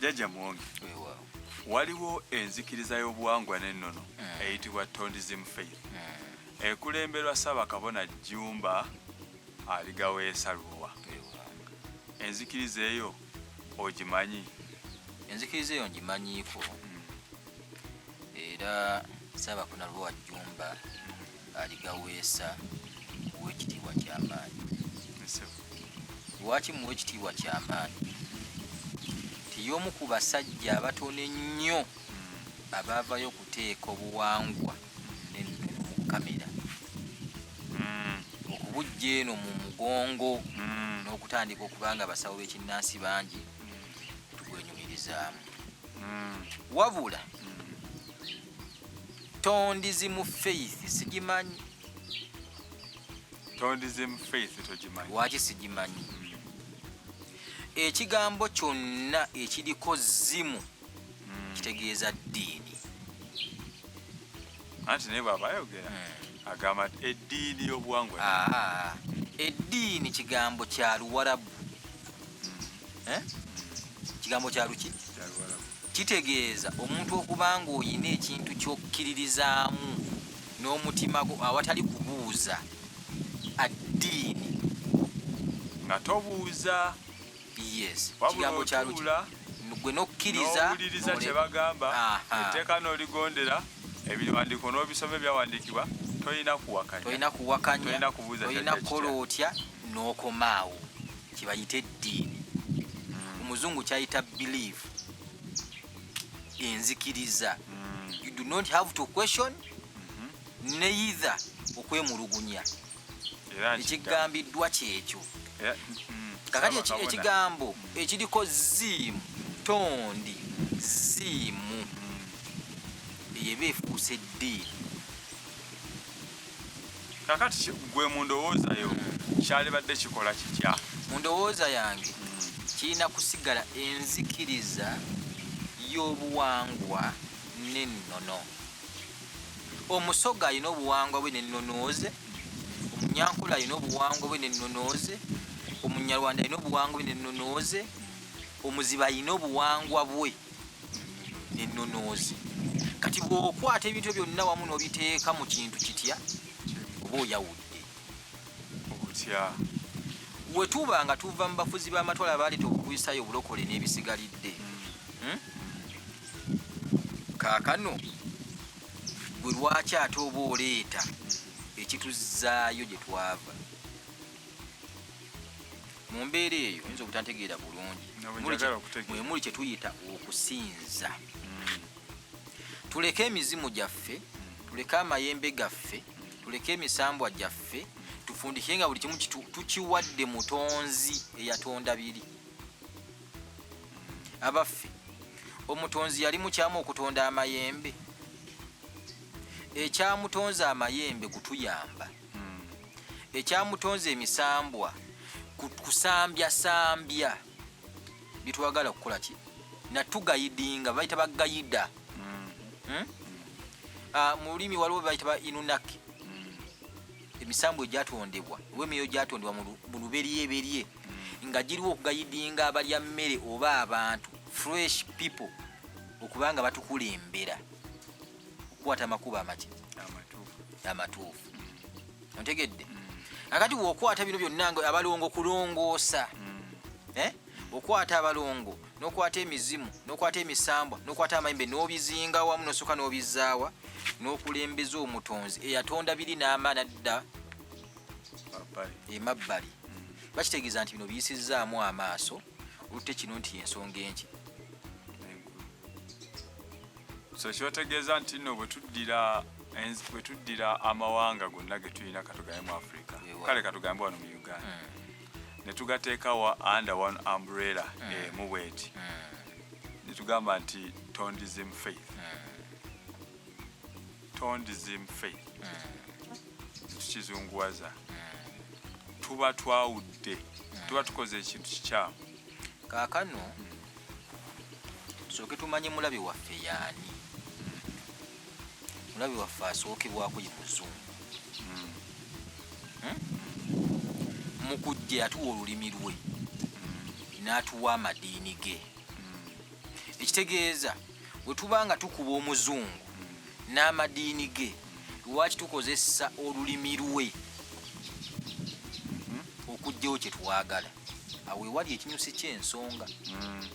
Jajja Muwonge, waliwo enzikiriza y'obuwangwa n'ennono hmm. eyitibwa Tondism Faith hmm. ekulemberwa Ssaabakabona Jjumba aligaweesa Lubowa. Enzikiriza eyo ogimanyi? Enzikiriza eyo ngimanyiiko hmm. era Ssaabakabona Lubowa Jjumba aligaweesa muwe ekitiibwa ky'amaanyi lwaki muwa ekitiibwa ky'amaanyi nti y'omu ku basajja abatono ennyo hmm. abaavayo okuteeka obuwangwa n'ennono mu kamera hmm. okubujja eno mu mugongo hmm. n'okutandika okubanga abasawo b'ekinnansi bangi tugwenyumirizaamu wabula tondizimu faith sigimanyi tondizimu faith togimanyi waki sigimanyi mm. ekigambo kyonna ekiriko zimu mm. kitegeeza ddiini anti naye bwabayogera mm. agamba ti eddiini y'obuwangwa ah, eddiini kigambo kya luwarabu eh? kigambo kya luki Kitegeeza omuntu okuba ng'olina ekintu ky'okkiririzaamu n'omutima gwo awatali kubuuza addiini. Nga tobuuza. Yes. Wabula otuula gwe n'okkiriza n'owuliriza kye bagamba etteeka n'oligondera ebiwandiiko n'obisoma ebyawandiikibwa tolina kuwakanya tolina kubuuza tolina kukola otya n'okomaawo kibayita eddiini mm. omuzungu kyayita believe enzikiriza mm. you do not have to question mm-hmm. neither okwemulugunya ekigambiddwa kyekyo mm, kakati ekigambo ekiriko ziimu tondi ziimu mm. eyo eba efuuse eddiini kakati gwe mu ndowooza yo kyalibadde kikola kitya mu ndowooza yange kirina kusigala enzikiriza y'obuwangwa n'ennono omusoga alina obuwangwa bwe n'ennonooze omunyankula alina obuwangwa bwe n'ennonooze omunyarwanda alina obuwangwa bwe n'ennonooze omuziba alina obuwangwa bwe nennunuuzi kati bw'okwata ebintu byonna wamu n'obiteeka mu kintu kitya oba oyawudde otya we tuba nga tuva mu bafuzi b'amatwala baaleeta obukuisaayo obulokole n'ebisigalidde hmm? kaakano gwe lwaki ate oba oleeta ekituzzaayo gye twava mu mbeera eyo oyinza obutantegeera bulungi mwe muli kye tuyita okusinza hmm. tuleke emizimu gyaffe tuleke amayembe gaffe tuleke emisambwa gyaffe tufundike nga buli kimu tukiwadde mutonzi eyatonda biri abaffe omutonzi yali mukyamu okutonda amayembe ekyamutonzi amayembe kutuyamba ekyamutonze emisambwa kusambyasambya byetwagala kukola ki natugayidinga baita bagayida mm. hmm? ah, mu lulimi waliwo baita ba inunaki mm. emisambwa egyatondebwa oba emyoyo gyatondebwa mu luberyeberye mm. nga giriwo okugayidinga abalya mmere oba abantu fresh people okubanga batukulembera okukwata amakubo amaki amatuufu ontegedde mm. akati wokwata bino byonna nga abalongo kulongoosa mm. eh? okwata abalongo nokwata emizimu nokwata emisambwa nokwata amayimbe nobizinga wamu nosoka nobizaawa nokulembeza omutonzi eyatonda biri n'amaana dda emabbali mm. bakitegeeza nti bino biyisizzaamu amaaso olutte kino nti ensonga enki so kyotegeeza nti no bwetuddira bwetuddira amawanga gonna getulina katugambe mu africa kale katugambe wano mu uganda hmm. netugateekawa under one umbrella hmm. emu bweti hmm. netugamba nti tondism faith tondism faith tukizunguwaza tuba twawudde tuba tukoze ekintu kikyamu kakano tusooke tumanye mulabi waffe yaani mulabi waffe asookebwako ye muzungu hmm? mu kujja yatuwa olulimi lwe n'atuwa amadiini ge ekitegeeza bwe tuba nga tukuba omuzungu n'amadiini ge lwaki tukozesa olulimi lwe hmm? okugjawo kye twagala awo ewali ekinyusi ky'ensonga mm.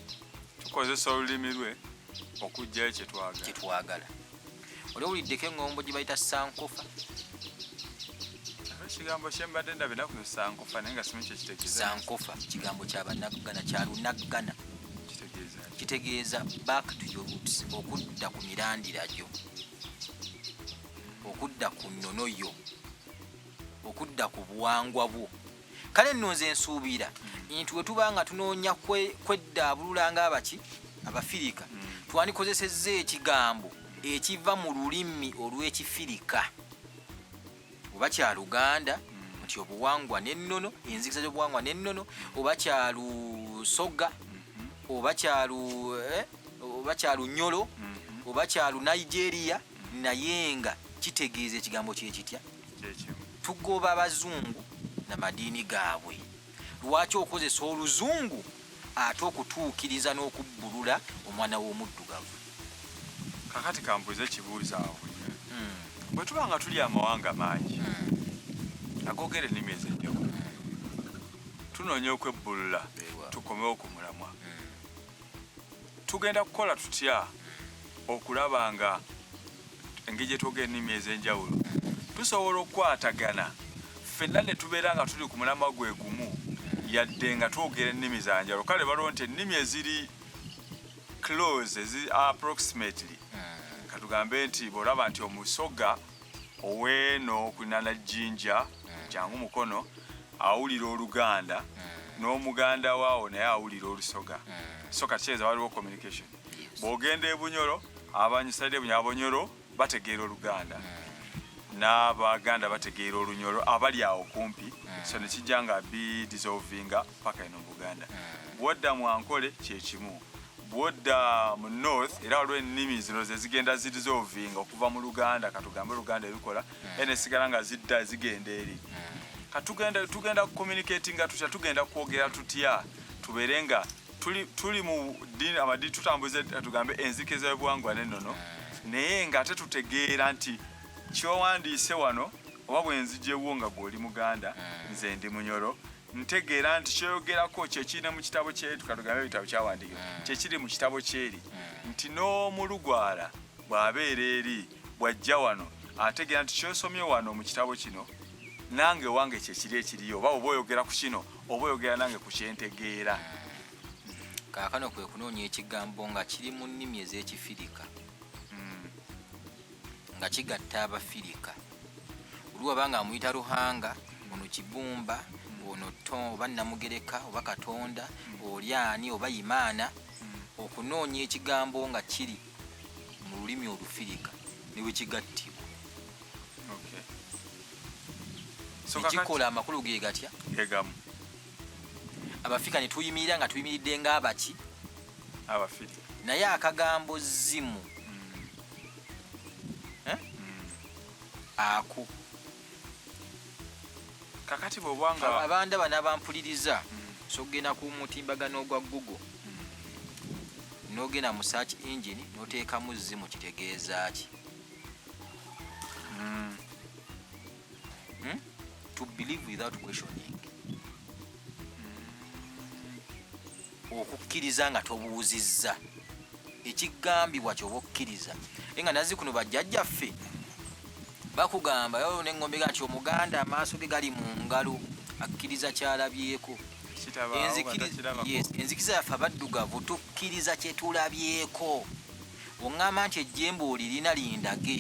tukozesa olulimi lwe okugjayo kyetwagala oli owuliddeko eŋŋombo gye bayita sankofa ekigambo kyembadde ndabye nakuno sankofa naye nga simu kyekitegeeza sankofa kigambo kyabanaggana kyalunaggana kitegeeza back to your roots okudda ku mirandira gyo okudda ku nnono yo okudda ku buwangwa bwo kale nno nze nsuubira nti we tuba nga tunoonya kweddaabulula ng'abaki abafirika mm. twandikozesezza ekigambo ekiva mu lulimi olw'ekifirika oba kya luganda mm. nti obuwangwa n'ennono enzikiza z'obuwangwa n'ennono oba kya lusoga mm-hmm. oba kya eh, lunyolo mm-hmm. oba kya lunigeria mm -hmm. naye nga kitegeeza ekigambo kyekitya tugoba abazungu na madiini gaabwe lwaki okozesa oluzungu ate okutuukiriza n'okubbulula omwana w'omuddugavu kakati kambuuza ekibuuzo awo hmm. bwe tuba nga tuli amawanga mangi hmm. agogera ennimi ezenjawulo tunoonya okwebbulula tukomewo ku mulamwa hmm. tugenda kukola tutya okulaba nga engeri gyetwoga ennimi ez'enjawulo tusobola okukwatagana ffenna ne tubeera nga tuli ku mulama gwe gumu yadde nga twogera ennimi za njawulo kale baliwo nti ennimi eziri close ezi approximately hmm. katugambe nti bw'olaba nti omusoga oweeno kunana jinja hmm. jangu mukono awulira oluganda hmm. n'omuganda waawo naye awulira olusoga hmm. so kakyeza waliwo communication bwogenda ebunyoro abanyisaide ebunyoro abonyoro bategeera oluganda n'abaganda bategeera olunyoro abali awo kumpi so nekijja nga bidissolvinga paka eno mu buganda hmm. bwodda mu ankole kyekimu bwodda mu north era waliwo ennimi zino zezigenda zirizovinga okuva mu luganda katugambe oluganda ebikola hmm. era nesigala nga zidda zigenda eri hmm. katugenda tugenda kucommunicatinga tutya tugenda kwogera tutya tubeere nga tuli mu dini amadi tutambuze tugambe enzikiza yobuwangwa nenono naye nga ate tutegeera nti kyowandiise wano oba bwenzijewo nga gweoli muganda nze ndi munyoro ntegeera nti kyoyogerako kyekiri mu kitabo kyetuka tugambe ebitabo kyawandiikibwa hmm. kyekiri mu kitabo kyeri hmm. nti n'omulugwala bw'abeera eri bw'ajja wano ategeera nti kyosomye wano mu kitabo kino nange wange kyekiri ekiriyo oba oba oyogera ku kino oba oyogera nange ku kyentegeera hmm. kaakano kwe kunoonya ekigambo nga kiri mu nnimi ez'ekifirika nga kigatta abafirika oli waba nga amuyita ruhanga ono kibumba ono to oba namugereka oba katonda oli ani oba imaana okunoonya ekigambo nga kiri mu lulimi olufirika newekigattibwa ekikola amakulu ge gatya abafika netuyimirira nga tuyimiridde ngaabaki abafiri naye akagambo zimu eh? ako kakati bwobanga Aba- abandaba n'abampuliriza mm. sogenda ku mutimbagano ogwa google mm. nogenda mu search engine noteekamu zimu kitegeeza ki Mm. Hmm? To believe without questioning. Hmm. Okukkiriza nga tobuuzizza ekigambibwa kyoba okkiriza naye nga nazi kuno bajjajjaffe bakugamba yo nengombe gati omuganda amaaso ge gali mu ngalo akkiriza kyalabyeko enzikiriza yaffe abaddugavu tukkiriza kyetulabyeko oŋŋamba nti ejjembe olirina lindage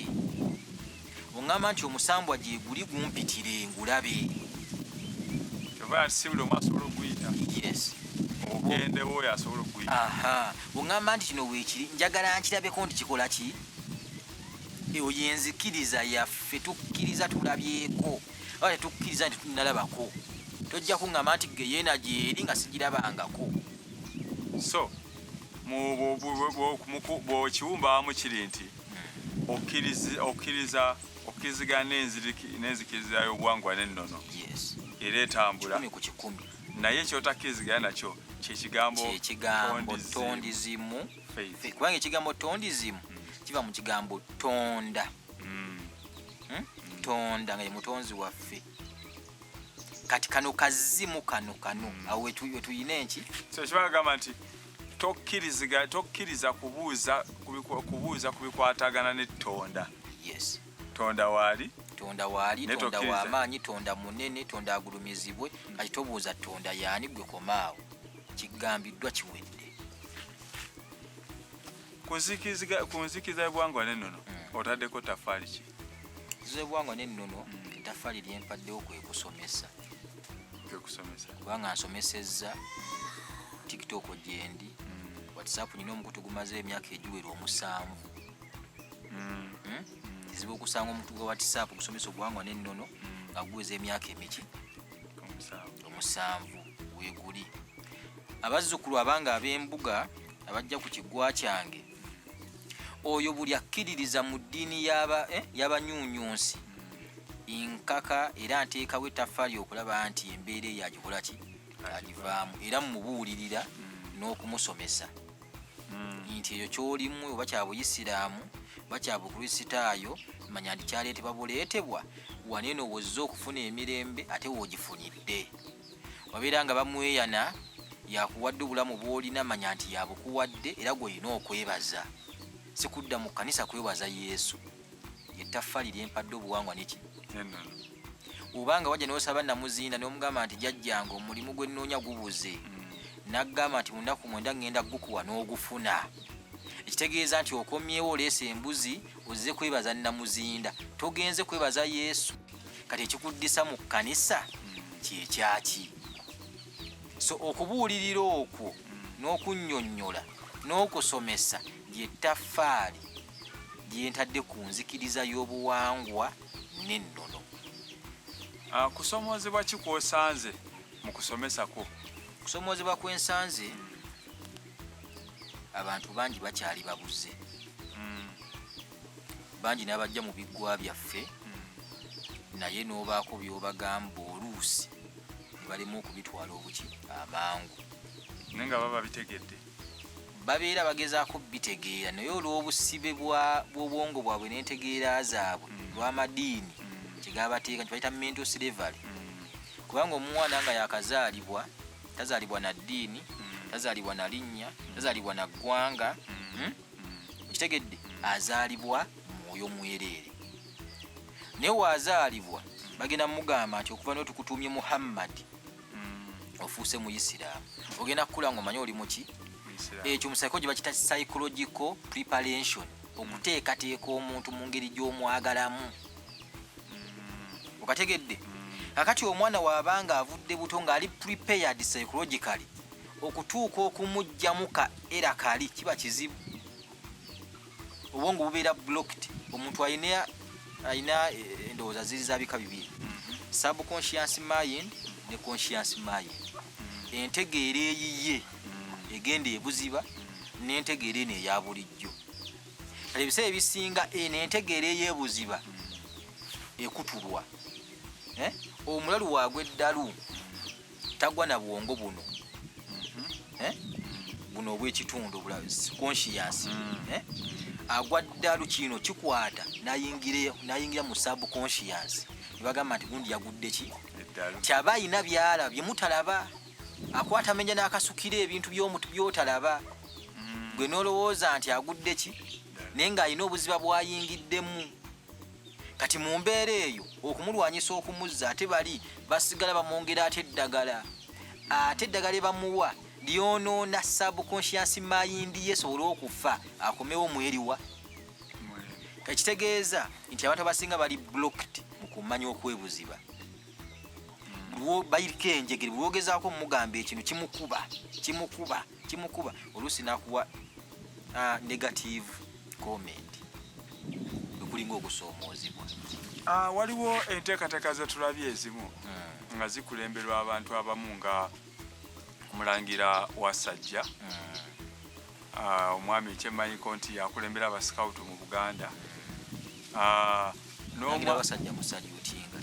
Ongamba nti omusambwa gyeguli gumpitire ngulabe. Kyova ati si buli omu asobola okuyita. Yes. Ogendewo oyo asobola okuyita. Aha. Ongamba nti kino weekiri njagala nkirabeko nti kikola ki? Eyo yenzikiriza yaffe tukkiriza tulabyeko oba tetukkiriza nti tunalabako. Tojja kungamba nti geyeena gyeri nga sigirabangako. So, mu bwokiwumbawamu kiri nti. okkiriza okkirizigana n'enzikiriza y'obuwangwa n'ennono era etambula naye kyotakkirizigana nakyo kyekigambo tondizimu kubanga ekigambo tondizimu hmm. kiva mu kigambo tonda hmm. Hmm? tonda nga ye mutonzi waffe kati kano kazimu kano kano awo wetuyina enki so kibagamba nti tokkiriza kubuuza kubuuza ku bikwatagana ne tonda yes tonda waali tonda waali tonda wamaanyi tonda munene tonda agulumizibwe hmm. kati tobuuza tonda yaani gwe komaawo kigambiddwa kiwedde ku nzikiriza egwangwa nenono hmm. otaddeko tafaali ki z'obuwangwa n'ennono mm. ettaffaali lyempaddewo kwe kusomesa kubanga nsomesezza tiktok gyendi mm. whatsapp nyina omukutu gumaze emyaka egiwera omusanvu mm. hmm? kizibu okusanga omuntu gwa whatsapp gusomesa obuwangwa n'ennono nga guweza emyaka emiki omusanvu weguli abazzukulu abanga ab'embuga abajja ku kigwa kyange oyo buli akkiririza mu ddiini y'abanyunyunsi eh, nkaka era nteekawo ettaffaali okulaba nti embeera eyo agikola ki agivaamu era mumubuulirira hmm. n'okumusomesa hmm. nti ekyo kyolimu oba kya buyisiraamu oba kya bukristaayo manya nti kyaleetebwa buleetebwa waneeno wozze okufuna emirembe ate woogifunidde wabeera nga bamweyana yakuwadde obulamu bwolina manya nti yabukuwadde era gwolina okwebaza sikudda mu kanisa kwebaza yesu yettaffali lyempadde obuwangwa neki obanga wajja nosaba namuzinda nomugamba nti jajjanga omulimu gwenoonya gubuze mm. nagamba nti munaku mwenda ngenda gukuwa n'ogufuna ekitegeeza nti okomyewo oleesa embuzi ozze kwebaza namuzinda togenze kwebaza yesu kati ekikuddisa mu kkanisa kyekyaki so okubuulirira okwo n'okunyonyola n'okusomesa lyetaffaali lyentadde ku nzikiriza y'obuwangwa n'ennono ah, kusomoozebwa ki kwosanze mu kusomesa kwo kusomoozebwa kwensanze abantu bangi bakyali babuze mm. bangi n'abajja mu biggwa byaffe mm. naye n'obaako by'obagamba oluusi ne balema okubitwala obuki amangu naye nga baba bitegedde babeera bagezaako bitegeera naye olw'obusibe bw'obwongo bwabwe n'entegeera zaabwe mm. lw'amadiini kyegabateeka nti bayita mental slavery kubanga omwana nga yakazaalibwa tazalibwa na ddiini mm. tazalibwa na linnya mm. tazalibwa na ggwanga mm. hmm? okitegedde azaalibwa mwoyo mwereere naye waazaalibwa bagenda mugamba nti okuva naye tukutuumye muhammadi ofuuse mu isiraamu ogenda kukula nga omanye oli muki ekyo musaiko gye bakita psychological preparation okuteekateeka omuntu mu ngeri gy'omwagalamu ogategedde kakati omwana waaba nga avudde buto ng'ali prepared psychologically okutuuka okumugjamu ka era kali kiba kizibu obwongo bubeera blocked omuntu alina alina eh, endowooza ziri zabika bibiri mhm. subconscious mind ne conscious mind mhm. entegeera eyiye mhm. egenda ebuziba nentegeera eno eya bulijjo kale ebiseera ebisinga eno entegeera eyebuziba ekutulwa eh? omulalu wagwa eddalu tagwa na bwongo buno mm-hmm. eh? buno obwekitundu conscious mm. eh? agwa ddalu kino kikwata nayingira mu subconscious nebagamba nti gundi yagudde ki tyaba ayina byalabye mutalaba akwata menya n'akasukira ebintu by'omutu by'otalaba mm. gwe n'olowooza nti agudde ki naye ng'alina obuziba bw'ayingiddemu kati mu mbeera eyo okumulwanyisa okumuzza ate bali basigala bamwongera ate eddagala ate eddagala ebamuwa lyonoona subconscious mind ye esobole okufa akomewo mweriwa ekitegeeza nti abantu abasinga bali blocked mu kumanya okwebuziba bayiriko enjegere bwogezaako omugamba ekino kimukuba kimukuba kimukuba oluusi nakuwa uh, negative comment ekulinga okusoomoozebwa uh, waliwo enteekateeka zetulabye ezimu hmm. nga zikulemberwa abantu abamu nga omulangira wasajja hmm. Ah, omwami ekyemmanyiko nti yakulembera abasikawutu mu buganda ah, abasajja musalyutinga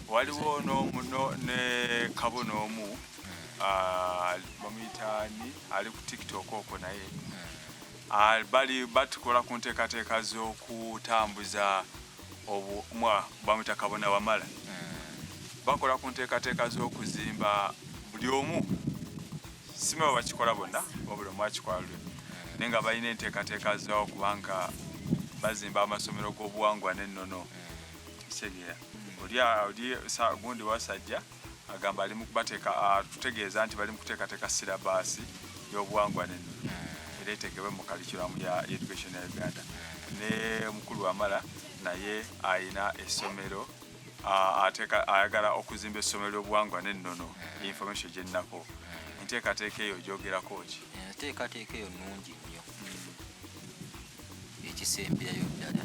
waliwo ne kabo n'omu hmm. ah, bamuyitani ali ku tiktok okwo naye hmm. bali batukola ku nteekateeka z'okutambuza obumwa bamuyita kabona wamala hmm. bakola ku nteekateeka z'okuzimba buli omu sima bwe bakikola bonna wabula omu akikola lwe naye nga balina enteekateeka zaawo kubanga bazimba amasomero g'obuwangwa n'ennono kitegera oli gundi wasajja agamba ali mukubateeka atutegeeza nti bali mukuteekateeka sirabaasi y'obuwangwa n'ennono era etegebwe mu kalikiramu ya education ya uganda ne mukulu wamala naye alina essomero ateka ayagala okuzimba essomero ly'obuwangwa n'ennono information gyennako enteekateeka eyo gyogerako ki enteekateeka eyo nnungi nnyo ekisemberayo ddala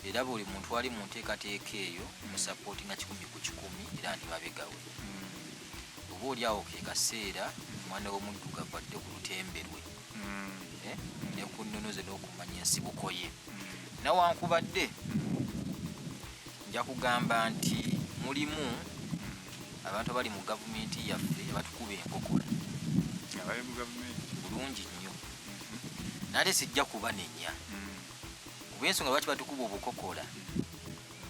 era buli muntu ali mu nteekateeka eyo musapooti nga kikumi ku kikumi era ndi mabegawe oba oli awo ke kaseera omwana w'omuddugavu adde ku lutembe lwe nze n'okumanya ensibuko ye nawankubadde nja kugamba nti mulimu abantu abali mu gavumenti yaffe abatukuba enkokola bulungi nnyo mm-hmm. nate sijja kubanenya mm. kuba ensonga lwaki batukuba obukokola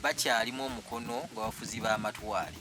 bakyalimu omukono gwabafuzi b'amatwale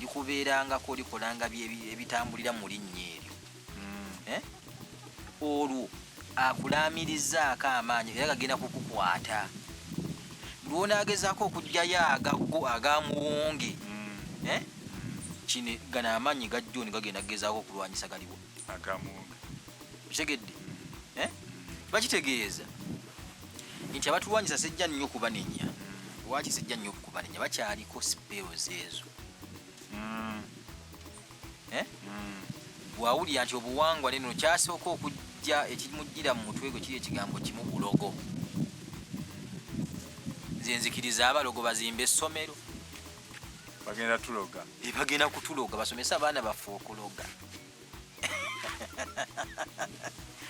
likubeerangako likolanga ebitambulira mu linnya eryo hmm. eh? olwo akulaamirizaako amaanyi era gagenda kukukwata lwonaagezaako okugyayo agago agamuwonge hmm. eh? kino gano amaanyi gajjoni gagenda kugezaako okulwanyisa galiwo agamuwonge kitegedde hmm. eh? bakitegeeza nti abatulwanyisa sijja nnyo kubanenya lwaki sijja nnyo kubanenya bakyaliko siperos ezo mm. eh? mm. bwawulira nti obuwangwa leno kyasooka okujja ekimujjira mu mutwe gwe kiri ekigambo kimu bulogo nze nzikiriza abalogo bazimba essomero bagenda tuloga bagenda kutuloga basomesa abaana baffe okuloga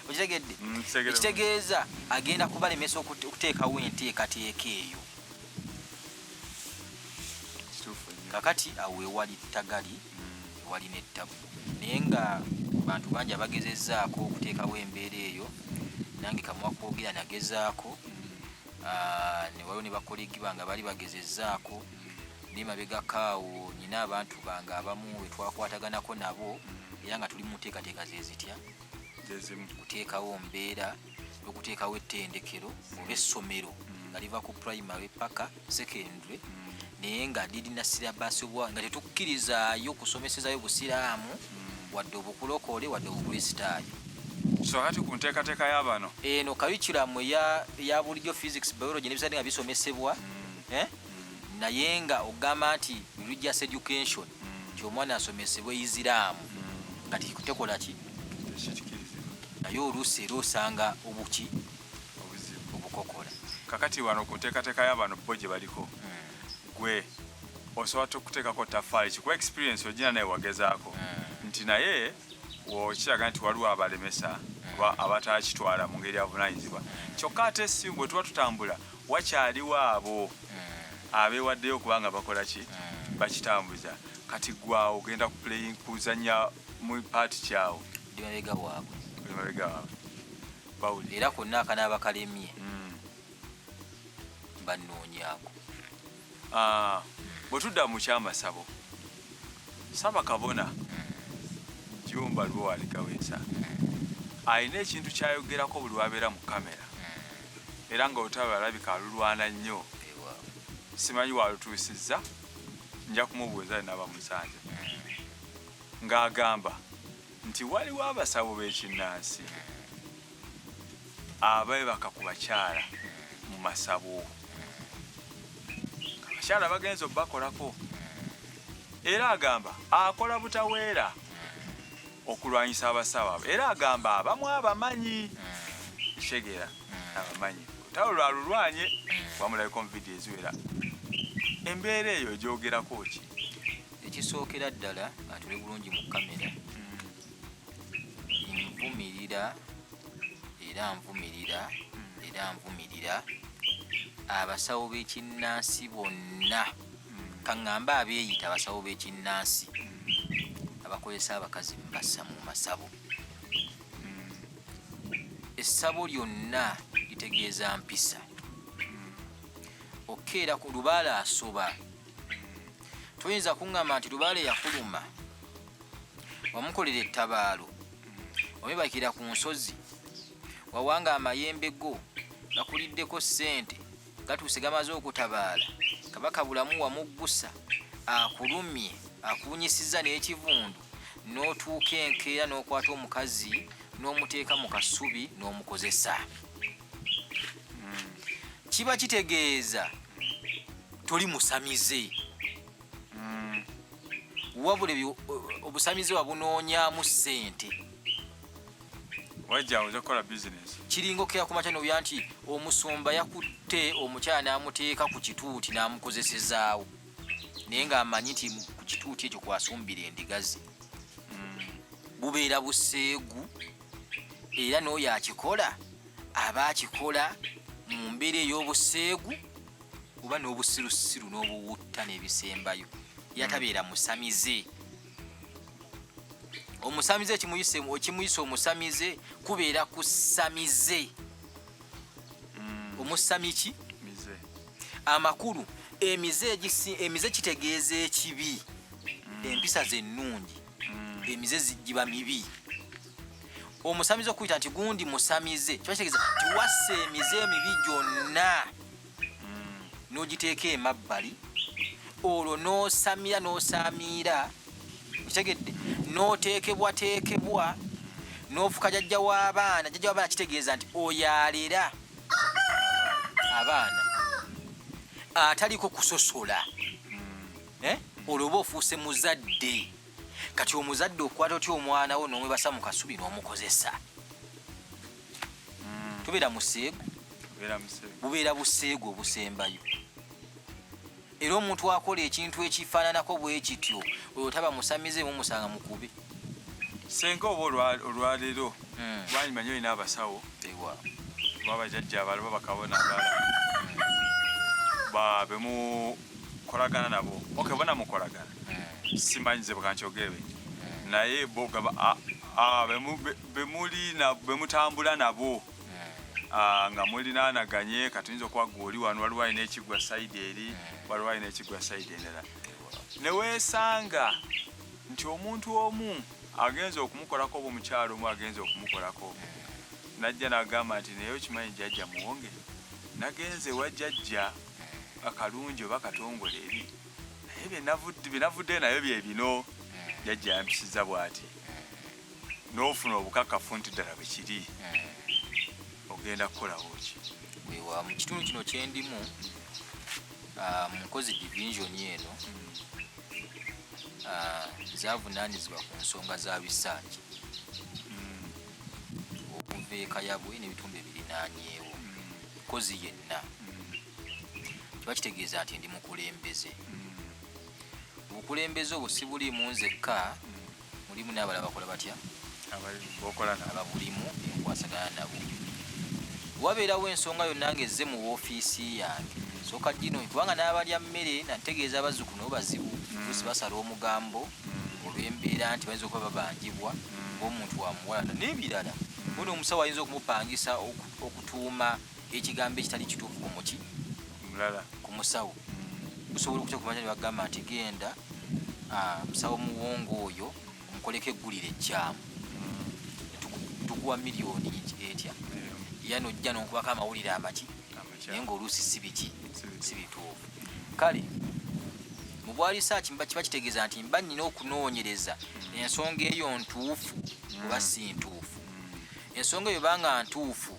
okitegedde mm, ekitegeeza agenda kubalemesa okuteekawo enteekateeka eyo kakati awo ewali tagali mm. ewali nettabu naye nga bantu bangi abagezezaako okuteekawo embeera eyo nange kamwakwogera nagezaako mm. ah, ne waliwo ne bakolegi bange abaali bagezezzaako naye mabegako awo nyina abantu bange abamu wetwakwataganako nabo era nga tuli muteekateeka zezitya kuteekawo mbeera okuteekawo ettendekero oba essomero mm. nga liva ku primary paka secondary mm. naye nga lirina sirabaasi obwa nga tetukkirizaayo kusomesezayo busiraamu wadde obukulokoole wadde obukristaayo so hati ku nteekateeka ya bano eno kayukiramu ya bulijjo physics biology nebisade nga bisomesebwa mm. eh? mm. naye nga ogamba nti religious education mm. nti omwana asomesebwa isiraamu nga tikutekola ki naye oluusi era osanga obuki obukokola kakati wano ku nteekateeka ya bano bo gye baliko gwe osobola tukuteekako tafaali kikuwa experience ogina naye wagezaako eh. nti naye okiraga nti waliwo abalemesa eh. abatakitwala mu ngeri avunanyizibwa kyokka ate esimu bwe tuba tutambula wakyaliwo abo eh. abeewaddeyo okuba nga bakola ki bakitambuza kati gwawo ogenda kuzanya mu paati kyawo era konna akanaaba kalemye mm. bannoonyaako ah, bwe tudda mu kyamasabo saba kabona jumba lwo waligawesa alina ekintu kyayogerako buli wabeera mu kamera era nga olutalo alabika alulwana nnyo simanyi walutuusizza nja kumubuuza nabamusanja ng'agamba nti waliwo abasawo b'ekinnansi abeebaka ku bakyala mu masabo abakyala bagenza okubakolako era agamba akola butaweera okulwanyisa abasawo abo era agamba abamu abamanyi kitegeera abamanyi tawe lwalulwanye wamulabika omuvidiyo eziwera embeera eyo egyogerako ki ekisookera ddala atuli bulungi mu kamera nvumirira era nvumirira era nvumirira abasawo b'ekinnansi bonna kaŋŋambe abeeyita abasawo b'ekinnansi abakozesa abakazi mubassa mu masabo essabo lyonna litegeeza mpisa okeera ku lubaala asoba toyinza kuŋŋamba nti lubaale yakuluma wamukolera ettabaalo omibakira ku nsozi wawanga amayembe go gakuliddeko ssente gatuuse gamaze okutabaala kabaka bulamu wamuggusa akulumye akuwunyisizza n'ekivundu n'otuuka enkeera n'okwata omukazi n'omuteeka mu kasubi n'omukozesa kiba kitegeeza toli musamize mm. wabula obusamize wabunoonyamu ssente wajja oja kukola bizinesi kiringa okera ku makya nobya nti omusumba yakutte omukyala n'amuteeka ku kituuti n'amukozesezaawo naye ng'amanyi nti ku kituuti ekyo kwasumbira endigazi mm. bubeera buseegu era n'oyo akikola aba akikola mu mbeera ey'obuseegu oba n'obusirusiru n'obuwutta n'ebisembayo yatabeera musamize omusamize ekimuyisa omusamize kubeera kusamize omusami ki amakulu emize kitegeeza ekibi mm. empisa zennungi mm. emize giba mibi omusamize okuyita nti gundi musamize kiba kitegeza tiwassa emize emibi gyonna mm. n'ogiteeka emabbali olwo n'osamira n'osamiira kitegedde n'oteekebwateekebwa n'ofuka jajja w'abaana jajja w'abaana kitegeeza nti oyo alera abaana ataliko kusosola mm. eh? olwo oba ofuuse muzadde kati omuzadde okwata otya omwana wo nomwebasa mu kasubi nomukozesa mm. tubeera museegu bubeera buseegu obusembayo era omuntu akola ekintu ekifaananako bwekityo oyo taba musamize mumusanga mukube senga oba olwaleero mm. wanyimanya olina abasawo babajajja abalaba bakabona abala mm. babemu kolagana nabo ok bona mukolagana eh. simanyi nze bwekankyogere naye bemutambula nabo Ah, nga mulinanaganye katuyinza okuba gwe oli wano waliwo alina ekigwa saidi eri waliwo alina ekigwa saidi endala newesanga nti omuntu omu agenza okumukolako oba omukyalo omu agenza okumukolako najja nagamba nti naye okimanyi jajja muwonge nagenze wa jajja akalungi oba katongole eri naye byenavuddeyo nabyo byebino jajja yampisiza bwati nofuna obukakafu nti ddala bwekiri ogenda kukolawo ki wewa mu kitundu kino kyendimu ah, munkozi division eno ah, zavunanyizibwa ku nsonga za bisaaki hmm. okuva ekayabwe nebitundu ebirinanyewo hmm. kozi yenna kiba kitegeeza nti ndi mukulembeze obukulembeze obwo sibuliimu nzekka mulimu n'abalala bakola batya ababulimu enkwasagana nabo wabeerawo ensonga yonna nga ezze mu woofiisi yange soka gino kubanga n'abalya mmere nategeeza abazzukulu nabo bazibu kusi mm. basala omugambo mm. olw'embeera nti bayinza okuba babanjibwa mm. ng'omuntu wamuwalana n'ebirala bona omusawo ayinza okumupangisa okutuuma ekigambo ekitali kituufu ku muki mulala ku musawo gusobola okutya kumanya ne bagamba nti genda musawo muwongo oyo omukoleko eggulire ekyamu mm. tukuwa miliyoni etya era nojja nonkubako amawulire amaki naye ngaoluusi si biki si bituufu kale mu bwalisaaki mba kiba kitegeeza nti mba nnyina okunoonyereza ensonga eyo ntuufu oba si ntuufu ensonga eyo banga ntuufu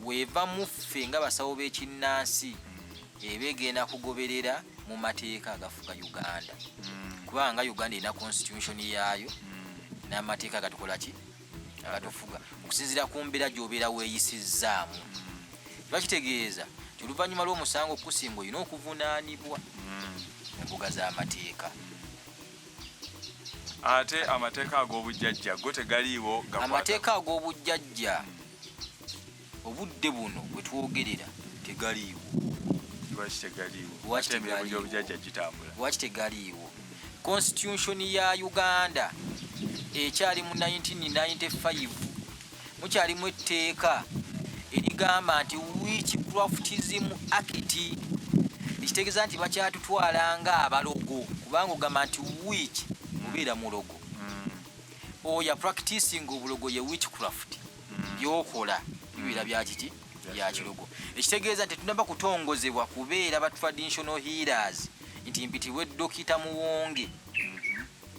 weeva muffe nga basawo b'ekinnansi eba egenda kugoberera mu mateeka agafuga uganda mm. kubanga uganda erina constitution yaayo mm. n'amateeka agatukola ki agatufuga okusinzira ku mbeera gy'obeera weeyisizzaamu mm. kiba kitegeeza ti oluvannyuma lw'omusango okusinga olina okuvunaanibwa mu mbuga z'amateeka ate amateeka ag'obujjajja go tegaliiwo amateeka ag'obujjajja obudde buno bwe twogerera tegaliiwo lwaki tegaliiwo lwaki tegaliiwo constitution ya uganda ekyali mu 1995 mukyalimu etteeka erigamba nti wiiki kurafutizimu akiti ekitegeeza nti bakyatutwala nga abalogo kubanga ogamba nti wiiki obeera mulogo mm. oya practicing obulogo ye wiiki craft mm. byokola bibeera mm. byakiki byakilogo ekitegeeza nti tunaba kutongozebwa kubeera ba traditional healers nti mpitibwe dokita muwonge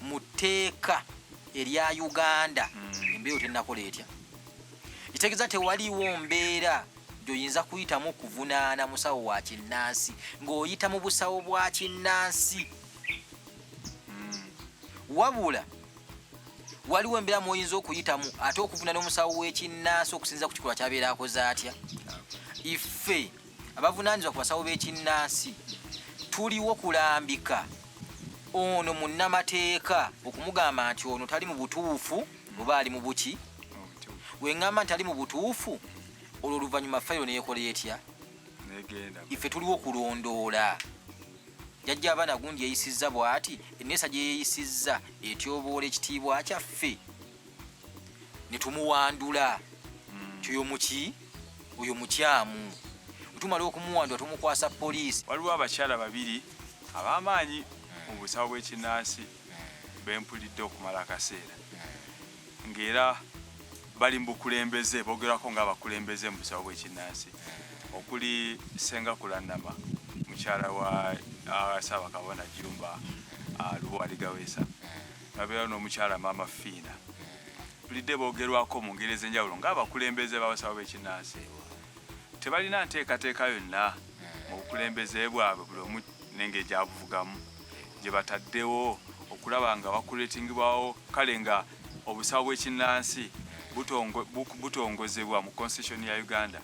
mu tteeka erya uganda mm. embeera otenakola etya kitegeeza tewaliwo mbeera gyoyinza kuyitamu okuvunaana musawo wa kinnansi ng'oyita mu busawo bwa kinnansi mm. wabula waliwo embeera mwoyinza okuyitamu ate okuvunaana omusawo w'ekinnansi okusinza ku kikolwa kyabeera akoze atya ife abavunaanyizibwa ku basawo b'ekinnansi tuliwo kulambika ono munnamateeka okumugamba nti ono tali mu butuufu oba ali mu buki wengamba nti ali mu butuufu olwo oluvannyuma fayiro neyekola etya ife tuliwo kulondoola jajja abaana gundi yeyisizza bwati eneesa gyeyeyisizza etyoboola ekitiibwa kyaffe netumuwandula mm. kyoyo muki oyo mukyamu wetumala okumuwandula tumukwasa poliisi waliwo abakyala babiri abamaanyi mu mm. busawo bwekinansi mm. bempulidde okumala akaseera ngaera bali mubukulembeze bogerako nga abakulembeze mu busawo bwekinansi okuli senga kulanama mukyala wa uh, saabakabona jumba uh, lubo aligawesa nabeera n'omukyala maama fiina bulidde boogerwako mu ngeri ez'enjawulo ng'abakulembeze b'abasawo b'ekinnansi tebalina nteekateeka yonna mu bukulembeze bwabwe buli omu nenge egyabuvugamu gye bataddewo okulaba nga bakuletingibwawo kale nga obusawo bw'ekinnansi butongozebwa mu constitution ya uganda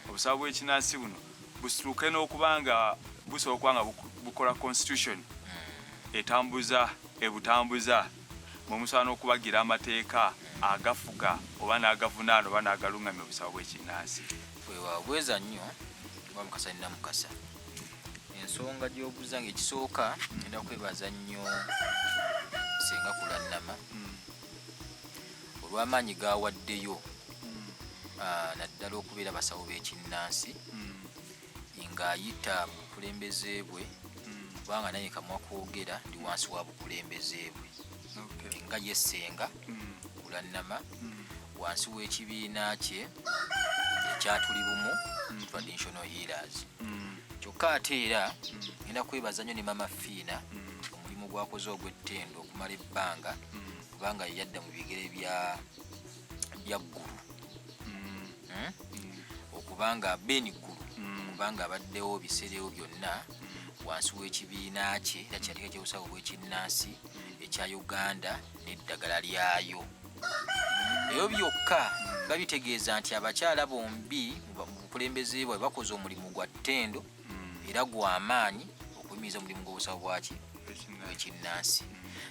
obusawo bw'ekinnansi buno busituke n'okuba nga busobola okuba nga bukola constitution hmm. etambuza ebutambuza mwe musobola n'okubagira amateeka agafuga oba n'agavunaana oba n'agaluŋŋamya obusawo bw'ekinnansi bweza nnyo oba mukasa nina mukasa ensonga gy'obuza nga ekisooka enda kwebaza nnyo senga kulannama hmm. olw'amaanyi gaawaddeyo ah, naddala okubeera abasawo b'ekinnansi mm. ng'ayita mu bukulembeze bwe mm. kubanga naye kamwa kwogera ndi wansi wa bukulembeze bwe nga yesenga mm. kulannama wansi w'ekibiina kye ekyatuli bumu traditional healers kyokka ate era ngenda kwebaza nnyo ne mama fiina omulimu gwakoze ogw'ettendo okumala ebbanga kubanga yadda mu bigere bya bya ggulu mm. hmm? mm. okubanga beni ggulu mm. kubanga abaddewo biseerewo byonna wansi w'ekibiina kye era kyandika kyobusawo bw'ekinnansi ekya uganda n'eddagala lyayo ebyo byokka babitegeeza nti abakyala bombi mu bukulembeze bwabwe bakoze omulimu gwa ttendo mm. era gwamaanyi okuyimiriza omulimu gw'obusawo bwaki ekinnansi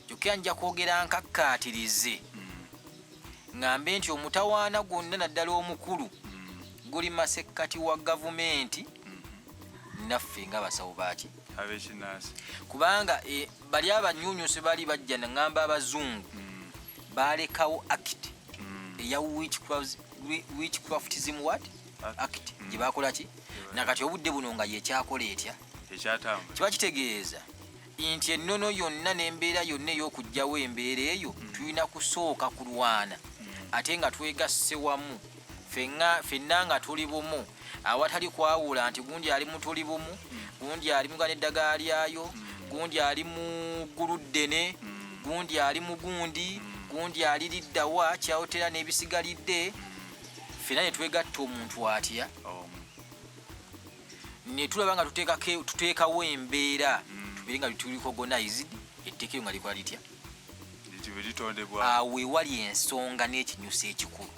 kyokka nja kwogera nkakkaatirize ng'ambe nti omutawaana gwonna naddala omukulu guli masekkati wa gavumenti naffe nga basawo baaki abekinansi kubanga e, bali abanyunyusi bali bajja naŋamba abazungu mm. balekawo act mm. eya witchcraftism wat act mm. gye bakola ki nakati obudde buno nga yekyakola etya kiba kitegeeza nti ennono yonna n'embeera yonna ey'okugyawo embeera eyo mm. tulina kusooka kulwana mm. ate nga twegasse wamu fenna nga tuli bumu awatali kwawula nti gundi ali mu tuli bumu gundi ali muga neddagala lyayo gundi ali mu ggulu ddene gundi ali mu gundi gundi aliriddawa kyawotera n'ebisigalidde fena netwegatta omuntu atya netulaba nga tuteekawo embeera mm. tubeere nga tuliko gonized etteeka eyo nga likola litya awo ewali ensonga n'ekinyusa ekikulu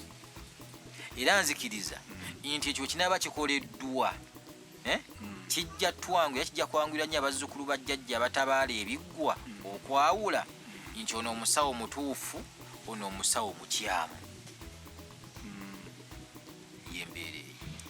era nzikiriza mm. nti ekyo kinaaba kikoleddwa eh? hmm. kijja twangu era kijja kwangulira nnyo abazzukulu ba jjajja abatabaala ebiggwa hmm. okwawula hmm. nti ono omusawo mutuufu ono omusawo mukyamu yembeere